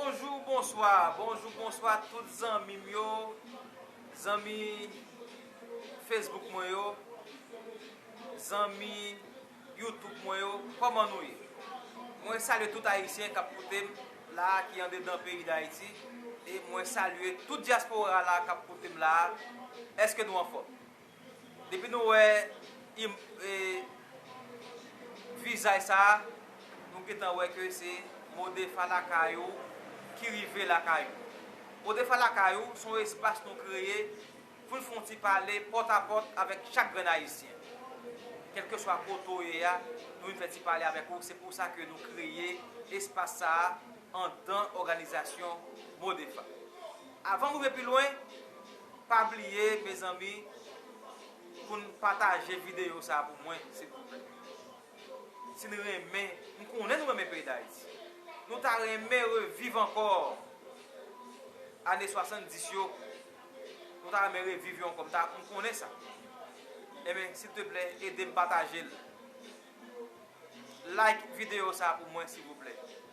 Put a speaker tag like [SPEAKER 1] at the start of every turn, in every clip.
[SPEAKER 1] Bonjou bonswa bonjou bonswa tout zanmim yo zanmi Facebook mwen yo zanmi YouTube mwen yo kòman nou ye mwen salye tout ayisyen kap koutem la ki andedan peyi dayiti e mwen salye tout dyaspora la kap koutem la èske nou anfòm Depi nou wè vizaj sa a, nou gentan wè ke se Modefa lakay ou ki rive lakay ou. Modefa lakay ou se yon espas nou kreye pou n fè yon ti pale pòt a pòt avèk chak grenn Ayisyen. Kèlkeswa kote ou ye a, nou vin fè ti pale avèk ou. Se pou sa ke nou kreye espas sa a anndan òganizasyon Modefa. Avan m rive pi lwen. Pa bliye mezanmi poun pataje video sa pou mwen silvouplè si n renmen m konnen nou renmen peyi dayiti nou ta renmen reviv ankò ane 70 yo nou ta renmen reviv yo ankò m ta m konnen sa enben silteplè edem patajel like video sa pou mwen silvouplè.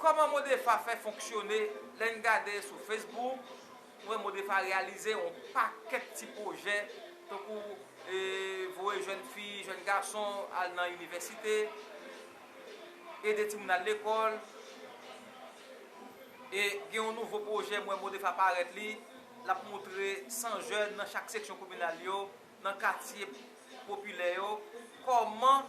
[SPEAKER 1] Kòman Modepha fè fonksyone, lè n gade sou Facebook, nou wè Modepha reyalize yon pakèt ti pwojè, tankou voye jèn fi, jèn gason al nan inivèsite, ede timoun al lekòl, e gen yon nouvo pwojè m wè Modepha parèt li, l ap montre 100 jèn nan chak seksyon kominal yo, nan katye popilè yo, kòman.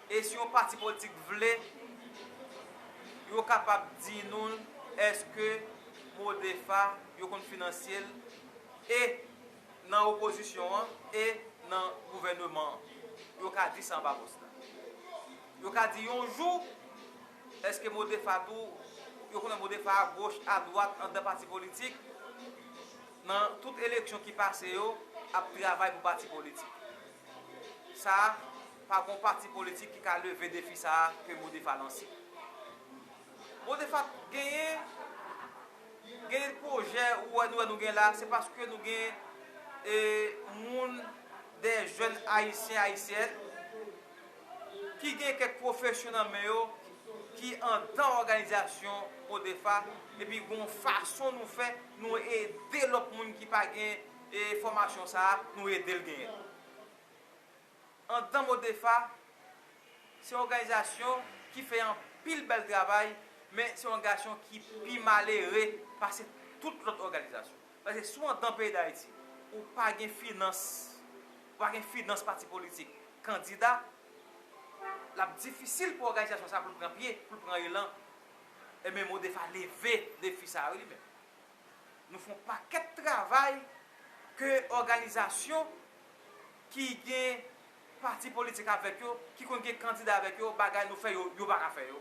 [SPEAKER 1] E si yon pati politik vle, yo kapab di nou l, èske Prodefa yo konn finansye l e nan opozisyon an e nan gouvèneman an? Yo ka di sa anba pòs la. Yo ka di yon jou, èske Modefa tou, yo konnen Modefa a goch, a dwat, andan pati politik, nan tout eleksyon ki pase yo, ap travay pou pati politik. Sa, Pa gon pati politik ki ka leve defi sa a ke Modefa lanse. Modefa genyen, genyen pwojè ou wè nou wè nou gen la, se paske nou gen e moun, dè jèn Ayisyen, Ayisyèn, ki gen kèk pwofesyon nan men yo, ki andan òganizasyon Modefa, epi gon fason nou fè, nou ede lòt moun ki pa gen e fòmasyon sa a, nou ede l genyen. Antan Modefa se òganizasyon ki fè anpil bèl travay men se òngasyon ki pi malere pase tout lòt òganizasyon. Paske si w andan peyi Dayiti ou pa gen finans, ou pa gen finans pati politik, kandida, l ap difisil pou òganizasyon sa pou l pran pye, pou l pran elan. Enben Modefa leve defi sa yo li menm. Nou fè yon pakèt travay ke òganizasyon ki gen pati politik avèk yo, ki konn gen kandida avèk yo, bagay nou fè yo, yo pa ka fè yo.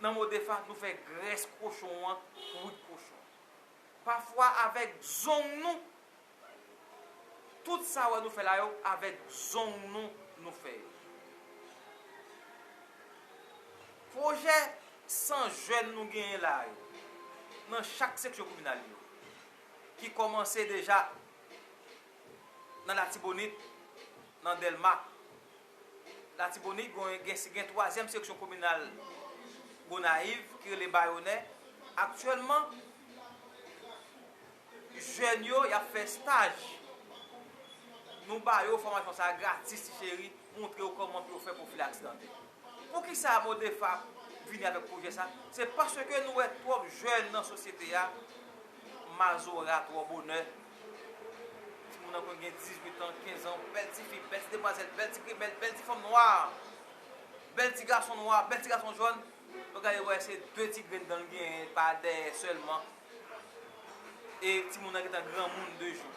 [SPEAKER 1] Nan mo defa, nou fè grès kochon an wout kochon. Pafwa avèk zong nou, tout sa wè nou fè la yo, avèk zong nou, nou fè yo. Pwojè 100 jèn nou genyen la yo, nan chak seksyon kominal yo, ki kòmanse deja nan Latibonit, nan Dèlma. Latibonit gen twazyèm seksyon kominal Gonayiv ki rele Bayonè. Aktyèlman, jèn yo y ap fè staj. Nou ba yo fòmasyon sa a gratis ti cheri. montre w kòman pou yo fè pwofilaks dantè. Poukisa MODEFAP vini avèk pwojè sa? Se paske nou wè twòp jèn nan sosyete a mazora twò bonè. Timoun nan konn gen 18 an, 15 an, bèl ti fi, bèl ti demwazèl, bèl ti grimèl, bèl ti fanm nwa, bèl ti gason nwa, bèl ti gason jòn. Lè w gade wè se 2 ti grenn dan l genyen pa dèyè sèlman. e timoun nan gentan granmoun 2 jou.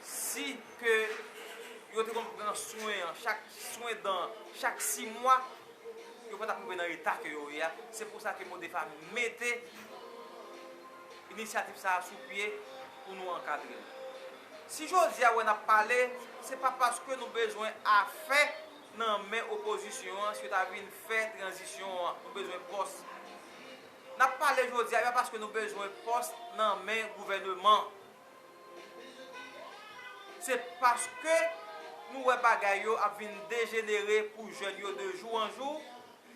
[SPEAKER 1] Si ke yo te konn pran swen an, chak swen dan an, chak 6 mwa, yo pa tap rive nan eta ke yo ye a. Se pou sa ke Modefa mete inisyativ sa a sou pye pou nou ankadre l. Si jodi a wè nap pale, se pa paske nou bezwen afè nan men opozisyon an, si yo ta vin fè tranzisyon an, nou bezwen pòs. Nap pale jodi a yo paske nou bezwen pòs nan men gouvèneman. Se paske nou wè bagay yo ap vin dejenere pou jèn yo de jou an jou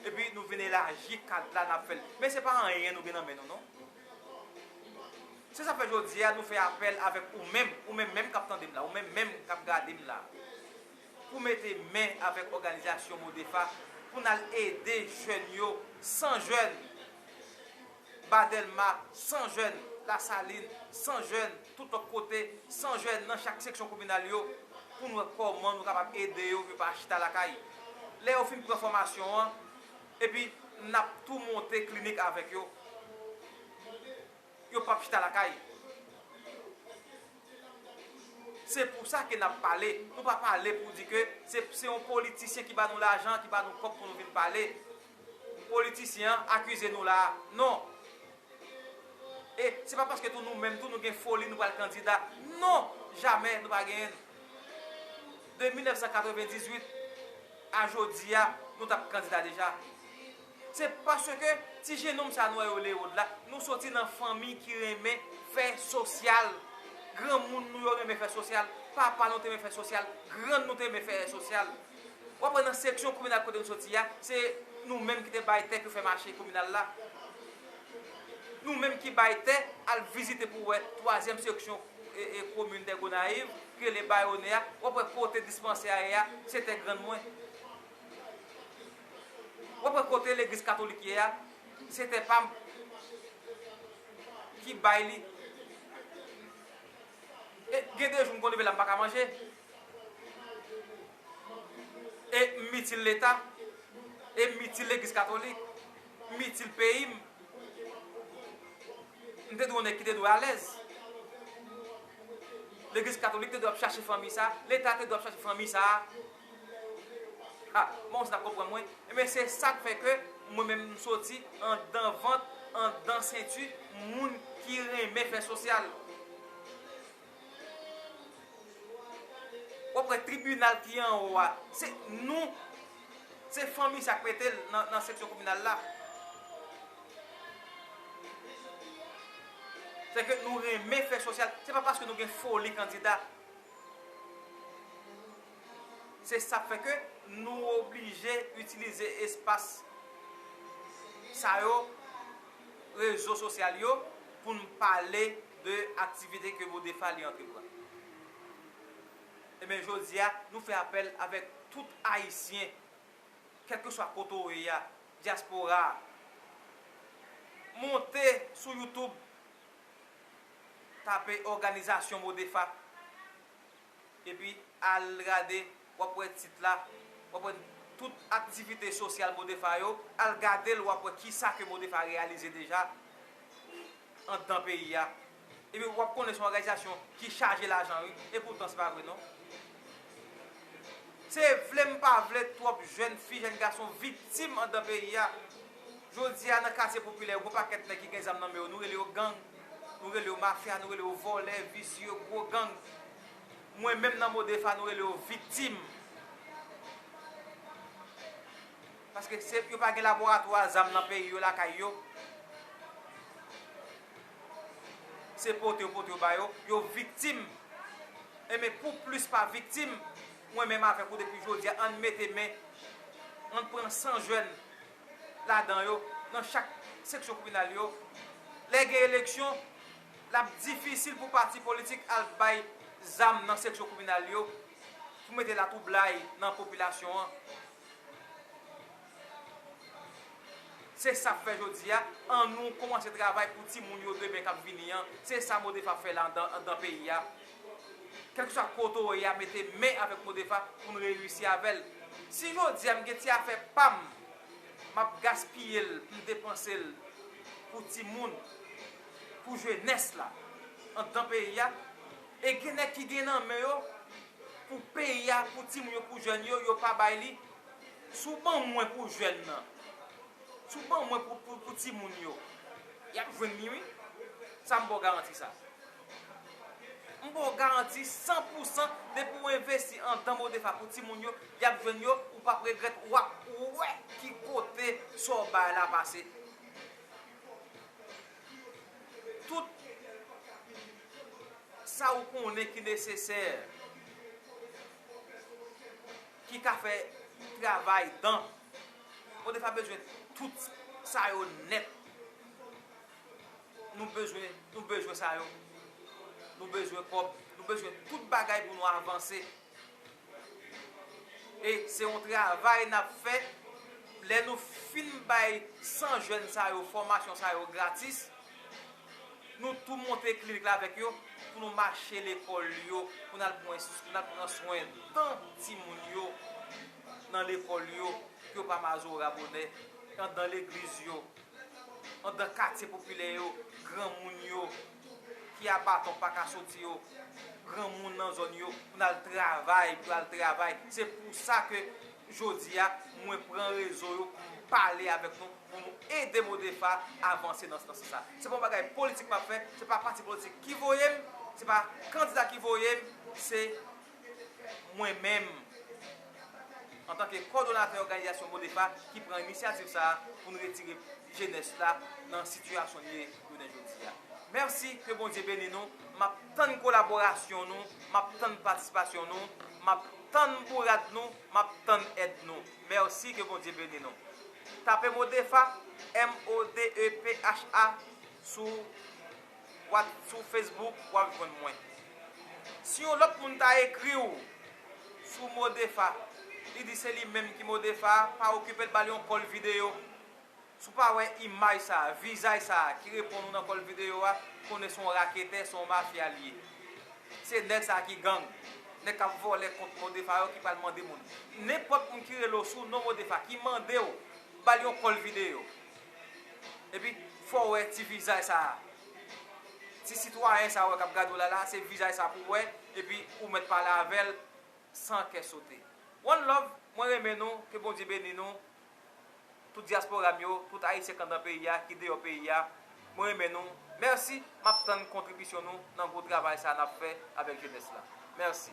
[SPEAKER 1] epi nou vin elaji kad la nap fèl. Men se pa anyen nou gen nan men nou non. Se sa fè jodi a nou fè apèl avèk ou menm, ou menm menm kap tande m la, ou menm menm kap gade m la. pou mete men avèk òganizasyon MODEFA pou n al ede jèn yo, 100 jèn Ba Dèlma, 100 jèn Lasalin, 100 jèn tout lòt kote, 100 jèn nan chak seksyon kominal yo, pou n wè kòman nou kapab ede yo pou yo pa chita lakay. Lè yo fin pran fòmasyon an, epi n ap tou monte klinik avèk yo. Yo pap chita lakay. Se pou sa ke n ap pale. Nou pa pale pou di ke se yon politisyen ki ba nou lajan, ki ba nou kòb pou nou vin pale. Politisyen an akize nou la a. Non! E se pa paske tou nou menm tou nou gen foli nou pral kandida. Non! Jamè nou pa genyen. De 1998 a jodi a, nou t ap kandida deja. Se paske ti jenonm sa nou wè yo Leod la, nou soti nan fanmi ki renmen fè sosyal. Granmoun nou yo renmen fè sosyal, papa nou te renmen fè sosyal, grann nou te renmen fè sosyal. W ap wè nan seksyon kominal kote nou soti a, se nou menm ki te bay tè pou fè mache kominal la. Nou menm ki bay tè, al vizite pou wè twazyèm seksyon komin dè Gonayiv, ki rele Bayone a, w ap wè kote dispansè a ye a, se tè grann mwen. Wap wè kote legliz katolik ye a se tè pam ki bay li e gen de jou m konn leve la m paka manje e m itil leta e m itil legliz katolik m itil peyi m m te dwe yon nèg ki te dwe alèz legliz katolik te dwe ap chache fanmi sa leta te dwe ap chache fanmi sa A, bon, sa konprann mwen. Enben, se sa k fè ke mwen menm m soti anndan vant, anndan senti moun ki renmen fè sosyal. W ap wè tribinal ki anwo a, se nou, se fanmi sa k mete l nan seksyon kominal la. Se ke nou renmen fè sosyal. Se pa paske nou gen foli kandida. Se sa k fè ke nou oblije itilize espas sa yo, rezo sosyal yo pou n pale de aktivite ke Bodefa li antreprann. Enben jodi a, nou fè apèl avèk tout Ayisyen, kèlkeswa kote w ye a, dyaspora a, monte sou YouTube, tape òganizasyon Bodefa. epi al gade wap wè tit la wap wè tout aktivite sosyal modepha yo al gadel wap wè kisa ke modepha reyalize deja andan peyi a epi wap konnen son òganizasyon ki chaje lajan wi epoutan se pa vre non se vle m pa vle twòp jèn fi jèn gason viktim andan peyi a jodi a nan katye popilè yo gon pakèt nèg ki gen zam nan men yo nou rele yo gang. Nou rele yo mafya, nou rele yo vòlè, visye, gwo gang. Mwen menm nan Modefa nou rele yo viktim. Paske se yo pa gen laboratwa zam nan peyi yo lakay yo. Se pote yo pote yo ba yo. Yo viktim. E men pou plis pa viktim. Mwen menm avèk ou depi jodi a an mete men. An pran san jwenn. ladan yo nan chak seksyon kominal yo, lè gen eleksyon, l ap difisil pou pati politik al bay zam nan seksyon kominal yo pou mete latwoublay nan popilasyon an. Se sa k fè jodi a, annou koumanse travay pou timoun yo demen k ap vini an. Se sa Modef ap fè la andan peyi a. Kelkeswa kote ou ye a mete men avek Modefa poun reyisi avèl. Si jodia m gen ti afè pam map gaspiyel poum depansel pou timoun, pou jenès la andan peyi a e gen nèg ki gen nan men yo pou peyi a, pou timoun yo, pou jèn yo, yo pa bay li. Si w ban mwen pou jèn nan, si w ban mwen pou timoun yo, yap jwenn li wi. Sam baw garanti sa. M ba w garanti san pou san depi w envesti andan Modefa pou timoun yo, y ap jwenn yo, ou p ap regrèt, w ap wè ki kote sa w bay la pase. Tout sa ou konnen ki nesesè ki ka fè travay dan, Modefa bezwen tout sa yo nèt. Nou bezwen nou bezwen sa yo. Nou bezwen kòb. Nou bezwen tout bagay pou nou avanse. E se yon travay n ap fè. Lè nou fin bay 100 jèn sa yo fòmasyon sa yo gratis, nou tou monte klinik la avèk yo pou nou mache lekòl yo pou n al pran swen tan timoun yo nan lekòl yo, pou yo pa mazora bonè, andan legliz yo. andan katye popilè yo, granmoun yo ki a baton pa ka soti yo, granmoun nan zòn yo pou n al travay, pou yo al travay. Se pou sa ke jodi a mwen pran rezo yo pou m pale avèk nou, pou nou ede Modefa avanse nan sans sa. Se pa yon bagay politik m ap fè, se pa pati politik ki voye m, se pa kandida ki voye m, se. mwen menm antanke kòdonatè òganizasyon Modepa ki pran inisyativ sa a pou n retire jenès la nan sitiyasyon li ye jounen jodi a. Mèsi, ke Bondye beni nou. M ap tann kolaborasyon nou, m ap tann patisipasyon nou, m ap tann bourad nou, m ap tann èd nou. Mèsi, ke Bondye beni nou. Tape Modefa, MODEPHA, sou. Wap sou Facebook wap jwenn mwen. Si yon lòt moun ta ekriw sou Modefa li di se li menm ki Modefa pa okipel bal yon kòl video si w pa wè imaj sa vizaj sa ki reponn ou nan kòl video a konnen son raketè son mafya li ye se nèg sa ki gang nèg kap vòlè kont Modefa yo ki pral mande moun nenpòt moun ki rele w sou non Modefa ki mandew bal yon kòl video. Epi fòw wè ti vizaj sa a. Ti sitwayen sa a wè kap gadew la la se vizaj sa pouw wè epi ou mèt pale avèl san kè sote. One love mwen renmen nou ke Bondye beni nou tout diaspora m yo tout ayisyen k andan peyi a ki deyò peyi a mwen renmen nou mèsi map tann kontribisyon nou nan gwo travay sa a nap fè avèk jenès la mèsi.